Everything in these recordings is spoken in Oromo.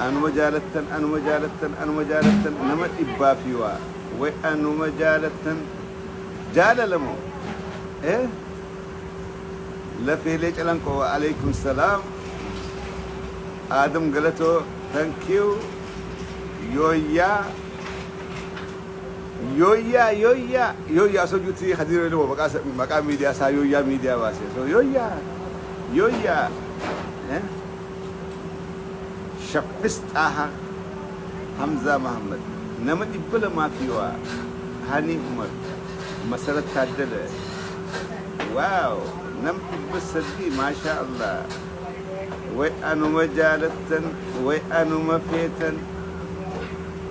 anuma jaalattan anuma jaalattan anuma jaalattan nama dhibbaa fi waa way anuma jaalattan jaalalamoo eh lafeelee calanqoo wa alaikum salaam aadam galatoo thank you yooyyaa Yooyyaa yooyyaa yooyyaa osoo juutii kadiiroo ilmoo maqaa sa- maqaa miidiyaa isaa yooyyaa miidiyaa baase osoo yooyyaa yooyyaa eh? shaffis xaaha hamzaa mahammad nama dhibba lamaa fi waa hanii umar masarat taaddala waaw nam dhibba sadii maashaa allah way anuma jaalattan way anuma feetan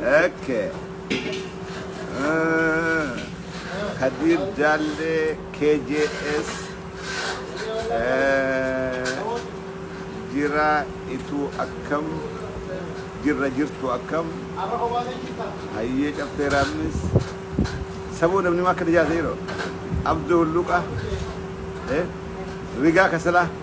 Okay. Ah, Kadir Jalle KJS eh, jira itu akkam jirra jirtu akkam hayyee caffee raamnis sabuu namni akka tajaajila yeroo abduu hulluqa eh, rigaa kasalaa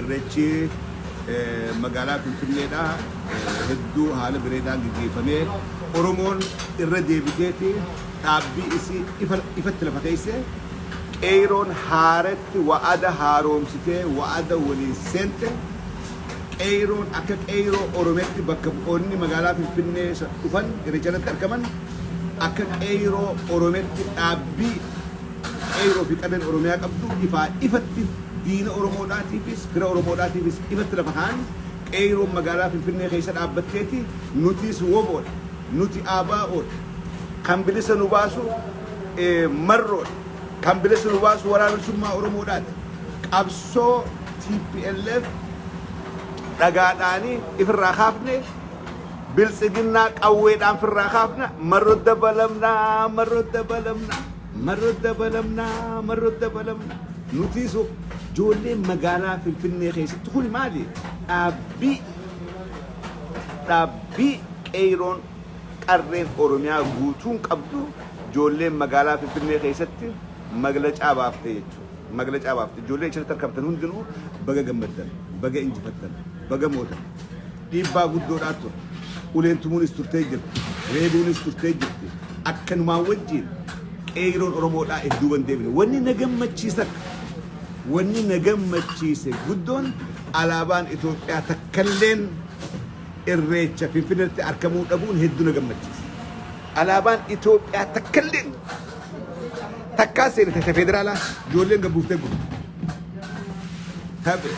Irreechi magaalaa Finfinneedhaa hedduu haala bireedaan geggeeffamee Oromoon irra deebiteeti dhaabbii isii ifatti lafa keeyse Qeeyroon haaretti wa'ada haaroomsitee wa'ada waliin seente Qeeyroon akka Qeeyroo Oromiyaatti bakka bu'oonni magaalaa Finfinnee dhufan Irreecha irratti argaman akka Qeeyroo Oromiyaatti dhaabbii Qeey'oo fi qabeen Oromiyaa qabdu ifaa ifatti diina Oromoodhaatiifis fira Oromoodhaatiifis ifatti lafa kaa'an, Qeeyroon magaalaa Finfinnee keessa dhaabbatteeti, nutiis wbo dha, nuti ABO dha, kan bilisa nu baasu Marroo dha, kan bilisa nu baasu Waraana Bilisummaa Oromoodhaati, qabsoo tplf dhagaadhaani ifirraa kaafne, Biltsiginnaa qawweedhaan firraa kaafna, Marro dabalamna, Marro dabalamna. Marro dabalamna marro dabalamna nutiis hoo joolleen magaalaa finfinnee keessatti kuni maali dhaabbii dhaabbii qeeyroon qarreen oromiyaa guutuun qabdu joolleen magaalaa finfinnee keessatti maglacaa baafte jechuudha maglacaa baafte joollee achirratti argamtan hundinuu baga gammaddan baga injifattan baga mootan Dhiibbaa guddoodhaa ture. Uleen tumuunis turtee jirti. Reebuunis turtee jirti. Akkanumaan wajjiin qeeyroon Oromoodhaa if duuban deebine. Wanni na gammachiisa wanni na gammachiise guddoon alaabaan Itoophiyaa takkalleen irreecha Finfinneetti arkamuu dhabuun hedduu na gammachiise. Alaabaan Itoophiyaa takkalleen takkaa seenite ta federaalaa ijoolleen gabbuuftee gurte. Tape.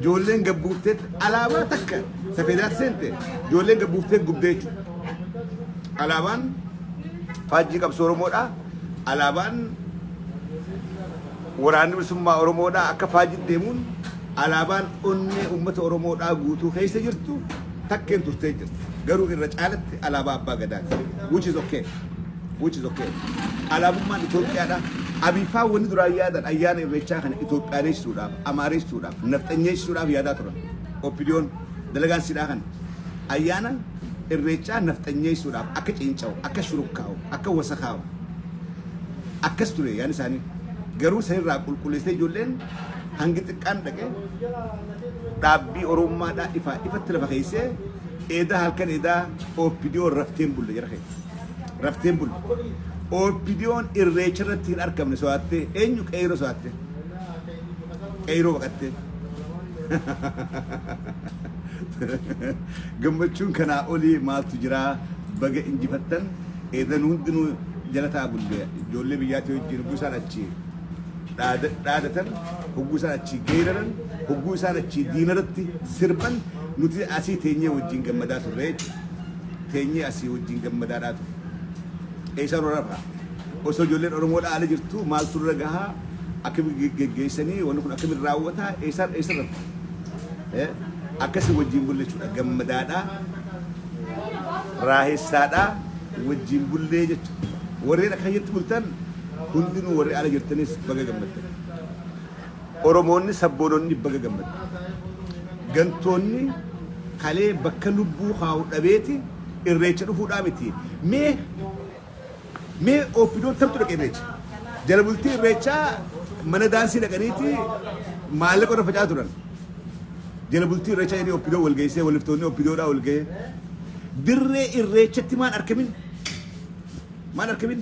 Ijoolleen gabbuufteetti alaabaa takka safeedaatti seente ijoolleen gabbuufteetti gubdee jechuudha. Alaabaan faajjii qabsoo Oromoodha. Alaabaan waraanni bilisummaa Oromoodha akka faajjii deemuun alaabaan onnee uummata Oromoodhaa guutuu keessa jirtu takkeen turtee jirti. Garuu irra caalatti alaabaa abbaa gadaati. Which is okay. which is okay. Alaabummaan Itoophiyaadha. Abiifaa wanni duraan yaadan ayyaana irreechaa kana Itoophiyaaleessuudhaaf, Amaareessuudhaaf, Nafxanyeessuudhaaf yaadaa turan. Oppidiyoon dalagaan sidhaa kana. Ayyaana irreechaa nafxanyeessuudhaaf akka ciinca'u, akka shurukkaa'u, akka wasakaa'u. Akkas ture yaan isaanii. Garuu sanirraa qulqulleessee ijoolleen hangi xiqqaan dhaqee dhaabbii Oromummaadhaa ifaa ifatti lafa keessee eedaa halkan eedaa Oppidiyoon rafteen bulle jara keessa. Rafteen buli. OPDOn irreecha irratti hin arkamne soaattee eenyu qeeyroo soaatte? Qeeyroo baqattee. Gammachuun kanaa olii maaltu jiraa? Baga injifattan eedan hundinuu jalataa bullee ijoollee biyyaatii wajjin hogguu isaan achi dhaada- dhaadatan hogguu isaan achi geeraran hogguu isaan achi diinaratti sirban nuti asii teenyee wajjin gammadaa turre jechuudha. teenyee asii wajjin gammadaadhaa ture. Eessaa nu rafa? Osoo ijoolleen Oromoodhaa ala jirtuu maaltu irra gahaa? Akkamitti geggeessanii wanni kun akkamitti raawwataa? Eessaa eessa rafu? Eh, Akkasii wajjin bulle jechuudha gammadaadhaa. raahessaadhaa wajjin bullee jechuudha. Warreen akkasitti bultan hundinuu warri ala jirtanis baga gammaddan. Oromoonni sabboononni baga gammaddan. Gantoonni kalee bakka lubbuu kaa'u dhabeeti irreecha dhufuudhaa miti. Mee mee OPDOn tamtu dhaqe irreecha? Jala bultii irreechaa mana daansii dhaqaniiti maallaqa irra facaa turan. Jala bultii irreechaa jedhanii OPDO wal geessee waliftoonni OPDOdhaa wal gahee. Dirree irreechatti maan arkamin? Maan arkamin?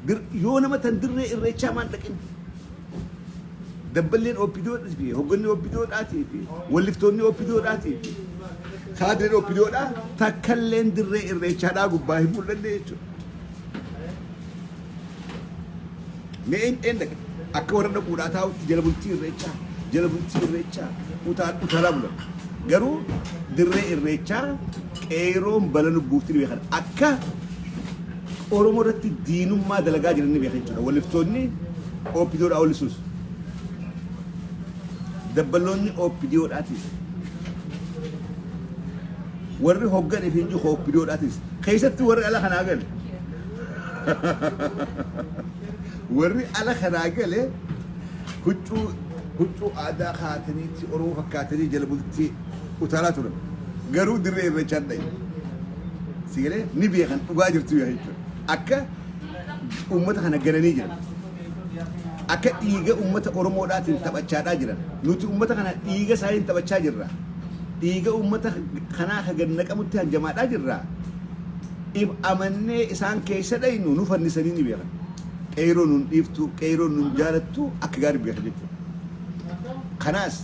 Dir- Yoo nama tan dirree irreechaa maan dhaqin? Dabballeen opdo fi hogganni opdo dhaatii fi walliftoonni opdo dhaatii fi kaadriin opdo dhaa takkalleen dirree irreechaa dhaa gubbaa hin mul'anne jechuudha. Mee een een dhaqa akka warra dhaquu dhaa taa'utti jala bultii irreechaa jala bultii irreechaa utaa utaalaa bulan. Garuu dirree irreechaa qeeroon bala lubbuufti dhibee kana akka Oromoo irratti diinummaa dalagaa jiran ni beeka jechuudha. Waliftoonni OPDO dhaa olisuus. Dabballoonni OPDO dhaatis. Warri hoggan ifiin jiru OPDO dhaatis. Keessatti warri ala kanaa gale. Warri ala kanaa gale huccuu huccuu aadaa kaataniitti Oromoo fakkaatanii jala bultii utaalaa turan. Garuu dirree irreechaa dhaye. Si galee ni beekan dhugaa jirtu yaa jechuudha. Akka uummata kana gananii jiran. Akka dhiiga uummata Oromoodhaatiin taphachaadhaa jiran. Nuti uummata kana dhiiga isaaniin taphachaa jirra. Dhiiga uummata kanaa ka gad naqamutti hanjamaadhaa jirra. If amannee isaan keessa dhaynu nu fannisanii ni beekan. Qeeyroo nun dhiiftu, qeeyroo nun jaalattu akka gaarii beekan jechuudha. Kanaas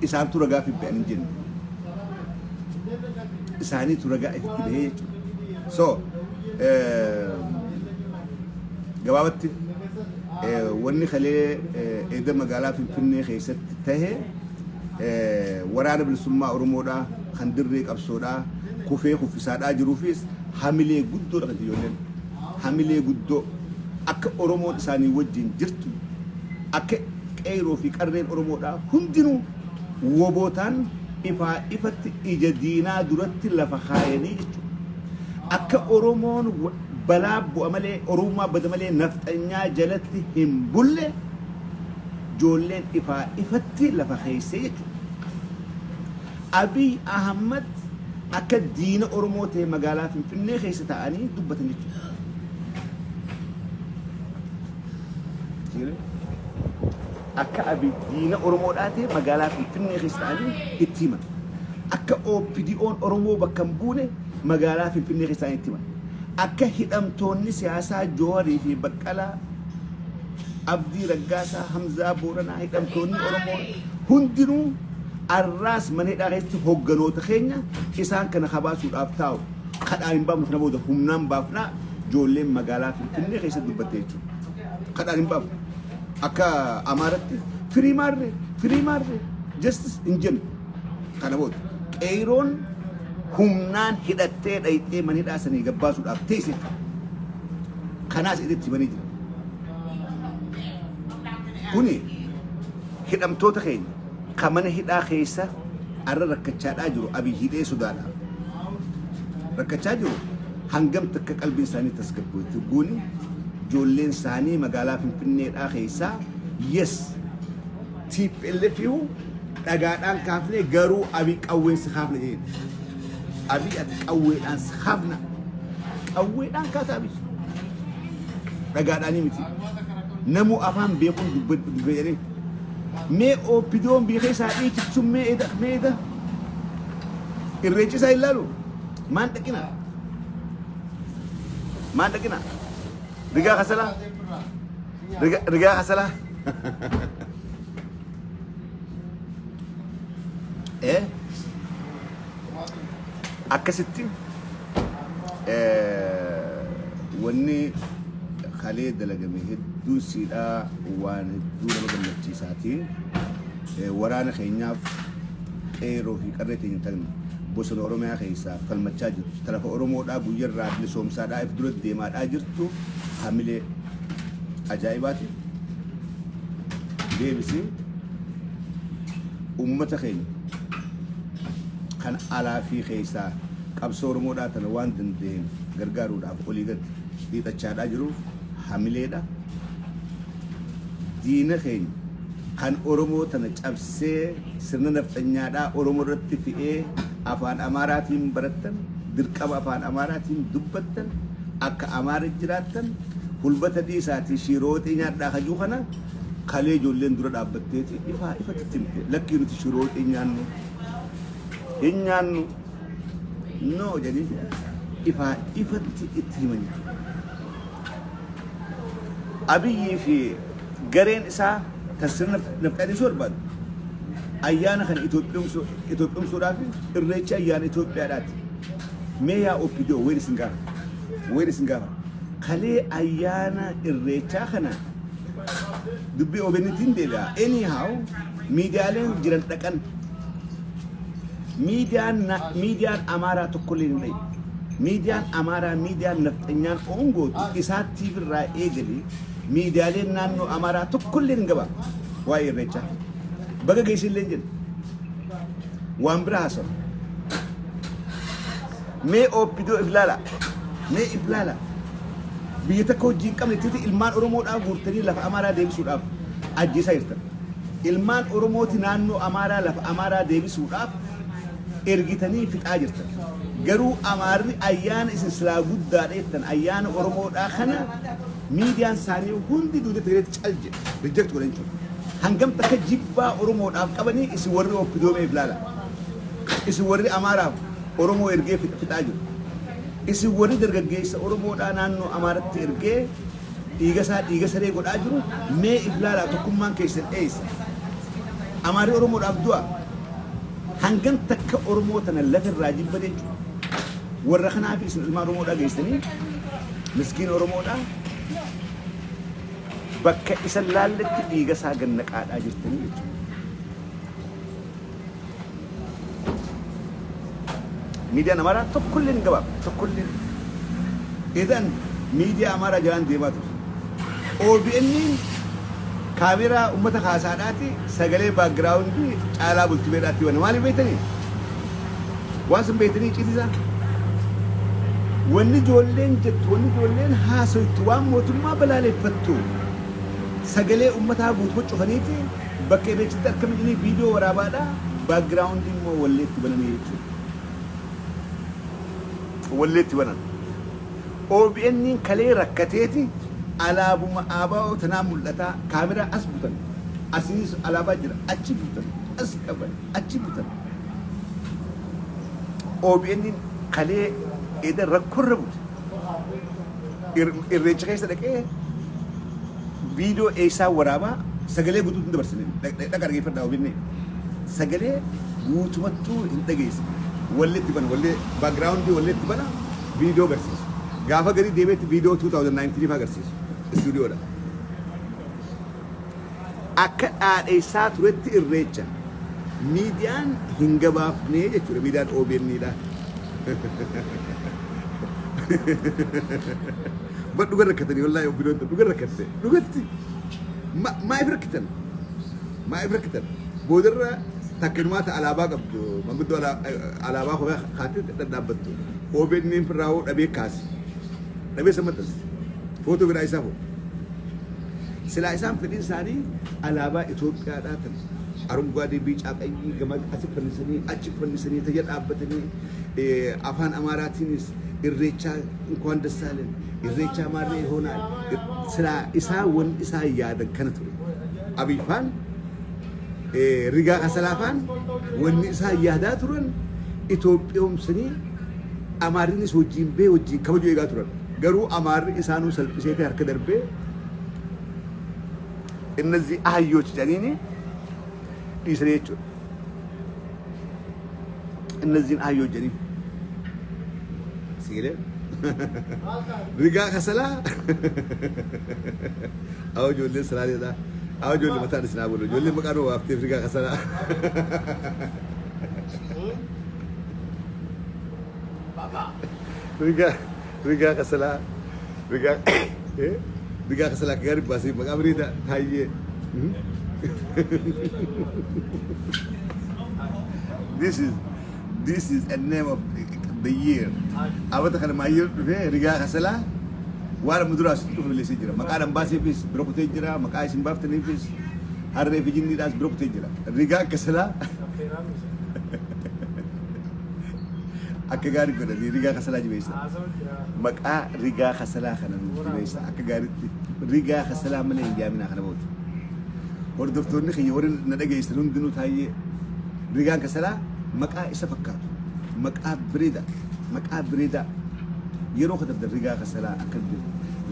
isaantu ragaaf hin ba'an hin jenne. Isaaniitu ragaa ifitti bahee jechuudha. So gabaabatti wanni kalee eeda magaalaa Finfinnee keessatti tahe waraana bilisummaa Oromoodhaa kan dirree qabsoodhaa kufee kuffisaadhaa jiruufis hamilee guddoodha kan ijoolleen. hamilee guddoo akka Oromoon isaanii wajjin jirtu akka Qeeyroo fi Qarreen Oromoodhaa hundinuu Wobootaan ifaa ifatti ija diinaa duratti lafa kaayanii jechuudha. Akka Oromoon balaa bu'a malee Oromummaa bada malee Nafxanyaa jalatti hin bulle joolleen ifaa ifatti lafa keeysee jechuudha. Abiy Ahmad akka diina Oromoo ta'e magaalaa Finfinnee keessa taa'anii dubbatan jechuudha. Akka Abiy diina Oromoo ta'e magaalaa Finfinnee keessa taa'anii itti himan. Akka OPDO'n Oromoo bakka hin buune magaalaa Finfinnee keessa taa'anii itti himan. Akka hidhamtoonni siyaasaa Jooharii fi Baqqalaa Abdii Raggaasaa, Hamzaa Booranaa hidhamtoonni Oromoo hundinuu Arraas mana hidhaa keessatti hogganoota keenya isaan kana kabaasuudhaaf taa'u kadhaa hin baafnu kana booda humnaan baafnaa ijoolleen magaalaa Finfinnee keessa dubbatte jechuudha. Kadhaan hin baafnu. Akka Amaaratti firii maarree firii maarree justice hin jennu. Kana booda qeeroon humnaan hidhattee dhayxee mana hidhaa sanii gabbaasuudhaaf teesse. Kanaas itti himanii jira. Kuni Hidhamtoota keenya ka mana hidhaa keessa arra rakkachaadhaa jiru Abiy hidhee sodaadhaan rakkachaa jiru hangam takka qalbiin isaanii tasgabbooyte hogguuni ijoolleen isaanii magaalaa Finfinneedhaa keessaa yes TPLF ihu dhagaadhaan kaafne garuu Abiy qawween si kaafna jedheen. Abiy ati qawweedhaan si kaafna. Qawweedhaan kaasa Abiy. Dhagaadhaanii miti. Namuu afaan beekuun dubbadhu dubbe jedhee. Mee ooppidoon beekee isaa dhiichichuun mee eda mee eda. Irreechisaa hin laalu. Maan dhaqina. Maan dhaqina. Rigaa kasalaa. Rigaa rigaa kasalaa. Eh? akkasitti wanni kalee dalagame hedduun siidhaa waan hedduu nama gammachiisaatiin waraana keenyaaf qeeroo fi qarree keenya ta'an bosona Oromiyaa keessaa falmachaa jirtu. Tarafa Oromoodhaa guyyarraa bilisoomsaadhaa if dura deemaadhaa jirtu hamilee ajaa'ibaati. Deebisee Uummata keenya kan alaa fi keessaa qabsoo Oromoodhaa tana waan danda'een gargaaruudhaaf olii gad hiixachaadhaa jiruuf hamileedha. Diina keenya kan Oromoo tana cabsee sirna nafxanyaadhaa Oromoo irratti fe'ee afaan Amaaraatiin barattan, dirqama afaan Amaaraatiin dubbattan, akka Amaara jiraattan, hulba tadii isaatii shiiroo waxii nyaadhaa kajuu kana Kalee ijoolleen dura dhaabbatteeti ifaa ifatti itti himte lakkii nuti shiroo hin nyaannu hin nyaannu noo jedhanii ifaa ifatti itti himanii. Abiyyii fi gareen isaa kan sirna nafxaadhiisuu barbaadu ayyaana kana Itoophiyoomsuu- Itoophiyoomsuudhaaf irreecha ayyaana Itoophiyaadhaati. Mee yaa OPDO wayni isin gaafa wayni isin gaafa kalee ayyaana irreechaa kana dubbii OBNtiin deebi'a. Anyhow miidiyaaleen jiran dhaqan miidiyaan na- miidiyaan amaaraa tokkollee hin dhayi. Miidiyaan amaaraa miidiyaan nafxanyaan oongootu isaa TV irraa eegalee miidiyaaleen naannoo amaaraa tokkollee hin gabaabne waa'ee irreechaa. Baga geessillee jedhu waan biraa haasa'u. Mee Opdo if laala. Mee if laala. Biyya takka hojii hin qabne titi ilmaan Oromoodhaa guurtanii lafa Amaaraa deebisuudhaaf ajjeesaa jirtan. Ilmaan Oromooti naannoo Amaaraa lafa Amaaraa deebisuudhaaf ergitanii fixaa jirtan. Garuu Amaarri ayyaana isin silaa guddaa dheettan ayyaana Oromoodhaa kana miidiyaan isaanii hundi duuda Tigireetti cal jedhe reject godhan jechuudha. Hangam takka jibbaa Oromoodhaaf qabanii isin warri Opdo mee if laala. Isin warri Amaaraaf Oromoo ergee fixfixaa jiru. Isin warri dargaggeessa Oromoodhaa naannoo Amaaratti ergee dhiigasaa dhiiga saree godhaa jiru mee if laalaa tokkummaan keessan eessa? Amaarri Oromoodhaaf du'a? Hangan takka Oromoo tana lafa irraa jibba jechu? Warra kanaafi isin ilmaan Oromoodhaa geessanii miskiina Oromoodhaa bakka isan laalletti dhiigasaa gannaqaadhaa jirtanii jechuudha. Miidiyaan Amaaraa tokkolleen hin gabaabne. Tokkolleen. Idan miidiyaa Amaaraa jalaan deemaa ture. OBNn kaameeraa ummata kaasaadhaati sagalee baakgiraawundii caalaa bultumeedhaatti bana. Maaliif beektanii? Waan sun beektanii citisaa? Wanni ijoolleen jettu, wanni ijoolleen haasoytu, waan mootummaa balaaleffattu sagalee ummataa guutuu cufaniiti Bakka irreechitti argame jedhanii viidiyoo waraabaadha, background immoo wallee itti bananii jechuudha. Wallee itti banan. OBN kalee rakkateeti alaabuma ABO tanaa mul'ataa kaameraa as butan asinis alaabaa jira achi butan as qaban achi butan. OBN kalee eda rakkorra bute. Irreecha keessa dhaqee viidiyoo eessaa waraabaa sagalee guutuu hin dabarsine dhaqa dhageeffadhaa ofinnee sagalee guutumattuu hin dhageesse wallee itti bana wallee baagiraawundii wallee itti bana viidiyoo agarsiisu gaafa garii deebi'etti viidiyoo 2019 faa agarsiisu istuudiyoodha. akka dhaadheessaa turetti irreecha miidiyaan hin gabaafnee jechuudha miidiyaan OBN dha. Bar dhuga rakkatanii wallaahi obbiloon tun dhuga rakkatte dhugatti Ma- maaf rakkitan maaf rakkitan boodarra takkinumaa ta alaabaa qabdu manguddoo ala- alaabaa kophaa kaatee dhadhaabbattu OBN firraawoo dhabee kaasi dhabee sammatas footoo biraa isaa hoo Silaa isaan fedhiin isaanii alaabaa Itoophiyaadhaa tan arunguwaadee biicaa qayyii gama asi fannisanii achi fannisanii tayya dhaabbatanii afaan Amaaraatiinis irreechaa inkuwaan dassaaleen irreechaa maarree hoonaan silaa isaa wan isaa yaadan kana ture. Abiifaan rigaa kasalaafaan wanni isaa yaadaa turan Itoophiyoomsanii Amaariinis wajjiin bee wajjiin kabajuu eegaa turan. Garuu Amaarri isaanuu salphiseetee harka darbee innazii ahayyochi jedhaniini dhiisanii jechuudha. Innaziin ahayyoo jedhaniin. Siilee. Rigaa kasalaa. Awwa ijoolleen salaaleedhaa. Awwa ijoollee mataan isinaa bulu. Ijoolleen maqaan hoo waafteef rigaa kasalaa. Baba. Rigaa rigaa kasalaa rigaa eh, rigaa kasalaa akka gaarii baasee maqaa bareedaa taayyee. Hmm? This is this is a name of the year. Abata kana maa year dhufee rigaa kasalaa waan amma duraas dhufu leessee jira. Maqaa dhan baaseefis bira kutee jira. Maqaa isin baaftaniifis harree fi jinniidhaas bira kutee jira. Rigaa kasalaa Akka gaarii godhanii rigaa kasalaa jibeessa. Maqaa rigaa kasalaa kana nuuf jibeessa. Akka gaariitti rigaa kasalaa malee hin jaaminaa kana booda. Hordoftoonni kiyya warri na dhageessan hundinuu taa'ee rigaan kasalaa maqaa isa fakkaatu. Maqaa bireeda. Maqaa bireeda. Yeroo katabdan rigaa kasalaa akka jiru.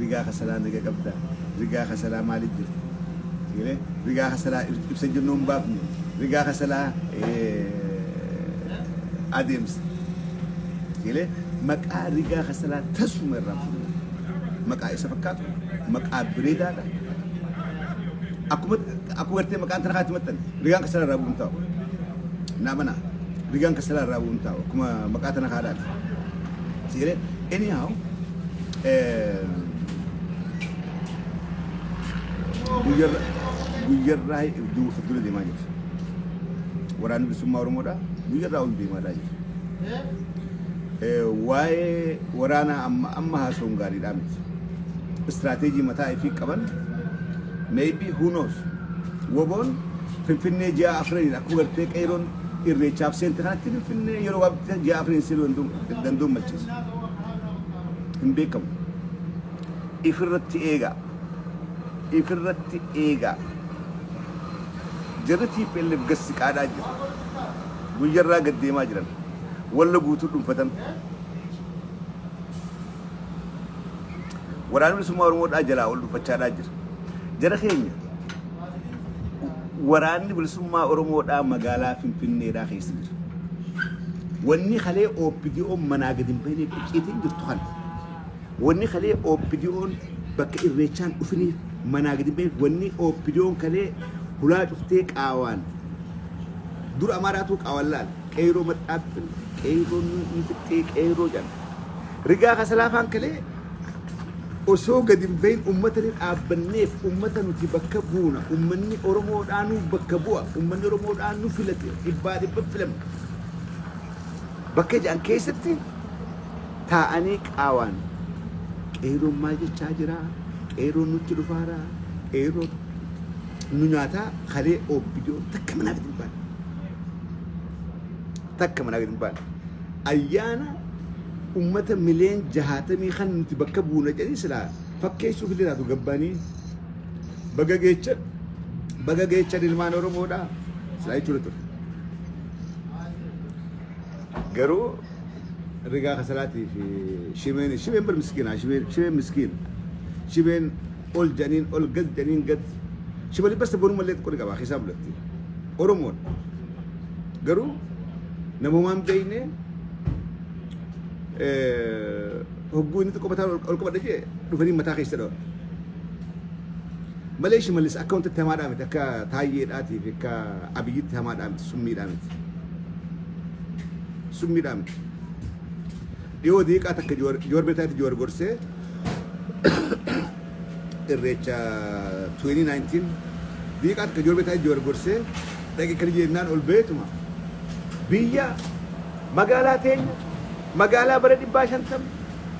Rigaa kasalaa naga qabda. Rigaa kasalaa maaliif jirti? Rigaa kasalaa ibsa jennuun baafne. Rigaa kasalaa adeemsa galee maqaa rigaa kasalaa tasuma irraan fudhuu maqaa isa fakkaatu maqaa bireedaadha akkuma akkuma gartee maqaan tana kaatti maxxan rigaan kasalaa irraa bu'uun taa'u naa mana rigaan kasalaa irraa bu'uun taa'u akkuma maqaa tana kaadhaati jedhee anyhow eh, guyyarra guyyarraa duuba fuuldura deemaa jirti. waraanni bilisummaa Oromoodha. Guyyarraa ol deemaadhaa jira. Waa'ee waraanaa amma amma haasawuun gaariidhaa miti. Istiraateejii mataa ifii qaban maybe who knows woboon finfinnee ji'a afraniin akkuma gartee qeeroon irreechaaf seente kanatti finfinnee yeroo gabaabatti ji'a afraniin seenuu danda'uun malchiisa. Hin beekamu. Ifirratti eegaa. Ifirratti eegaa. Jarri tplf gad siqaadhaa jiru. Guyyarraa gad deemaa jiran. Wallo guutuu dhunfatan. Waraanni Bilisummaa Oromoo dhaa jalaa ol dhunfachaadhaa jira. Jara keenya waraanni Bilisummaa Oromoo dhaa magaalaa Finfinnee dhaa keessa jira. Wanni kalee OPDO manaa gad hin bahineef icciitiin jirtu kana. Wonni kalee OPDOn bakka irreechaan dhufiniif manaa gadi hin bahiin wonni OPDOn kalee hulaa cuftee qaawaan dura Amaaraatuu qaawaan laale qeeyroo madhaaf fille qeeyroo ni fixxee qeeyroo jedhan rigaa kasalaafaan kalee osoo gadi hin bahiin ummata ni dhaabbanneef ummata nuti bakka buuna ummanni Oromoodhaa nuuf bakka bu'a ummanni Oromoodhaa nu filate dhibbaa dhibba filamne bakka jedhan keessatti taa'anii qaawaan qeerroon maal jechaa jira qeerroon nutti dhufaara qeerroon nu nyaataa kalee obbidoo takka manaa gadi hin baane takka manaa gadi hin baane ayyaana ummata miliyoon jahaatamii kan nuti bakka buuna jedhanii silaa fakkeessuuf illee laatu gabbaanii baga geecha baga geecha ilmaan oromoodha silaa jechuudha ture garuu Rigaa kasalaatii fi shimeen shimeen bar miskiina shimeen shimeen miskiina shimeen ol janiin ol gad janiin gad shimali basta bonuma illee xiqqoo ni qaba keessaa bulatti oromoon garuu namumaan beeyne hogguu inni xiqqoo mataa ol qabadhe jee dhufanii mataa keessa dhawan malee shimalis akka wanti itti hamaadhaa miti akka taayyeedhaatii fi akka abiyyitti hamaadhaa miti summiidhaa miti. Summiidhaa miti. Dhiyoo diiqaa takka Jowaar Jowaar Beetaatti Jowaar gorsee irreecha 2019 diiqaa takka Jowaar Beetaatti Jowaar gorsee dhaqi kan jennaan ol beetuma. Biyya magaalaa teenya magaalaa bara dhibbaa shantam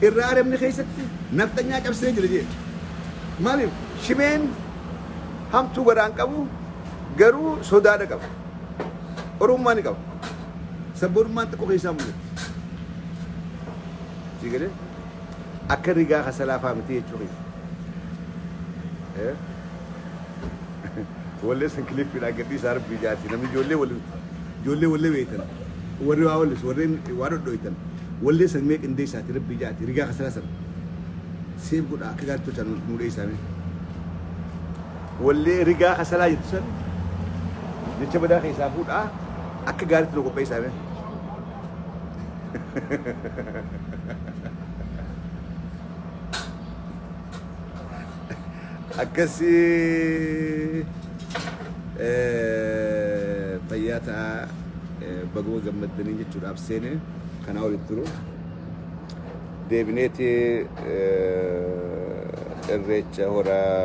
irraa arabni keessatti nafxanyaa cabsee jira jee. Maaliif shimeen hamtuu garaan qabu garuu sodaadha qaba. Oromummaa ni qaba. Sabboonummaan xiqqoo keessaa mul'atti. Sii galee? Akka rigaa kasalaa fa'aa miti jechuu keessa. Eh? Wallee san kilippiidhaan gadhiisaa rabbii jaati. Namni ijoollee wal ijoollee wallee beektan. Warri waa wallis warreen waa dhodhoitan. Wallee san mee qindeessaati rabbii jaati. Rigaa kasalaa san. Seef godhaa akka gaariitti tolchaan nu dheessaame. Wallee rigaa kasalaa jettu san jecha badaa keessaa fuudhaa akka gaariitti nu qopheessaa mee. Akkasii eh, fayyaa ta'aa eh, baguma gammaddanii jechuudhaaf seene kanaa olitti turuu. Deebineeti Irreecha Hora.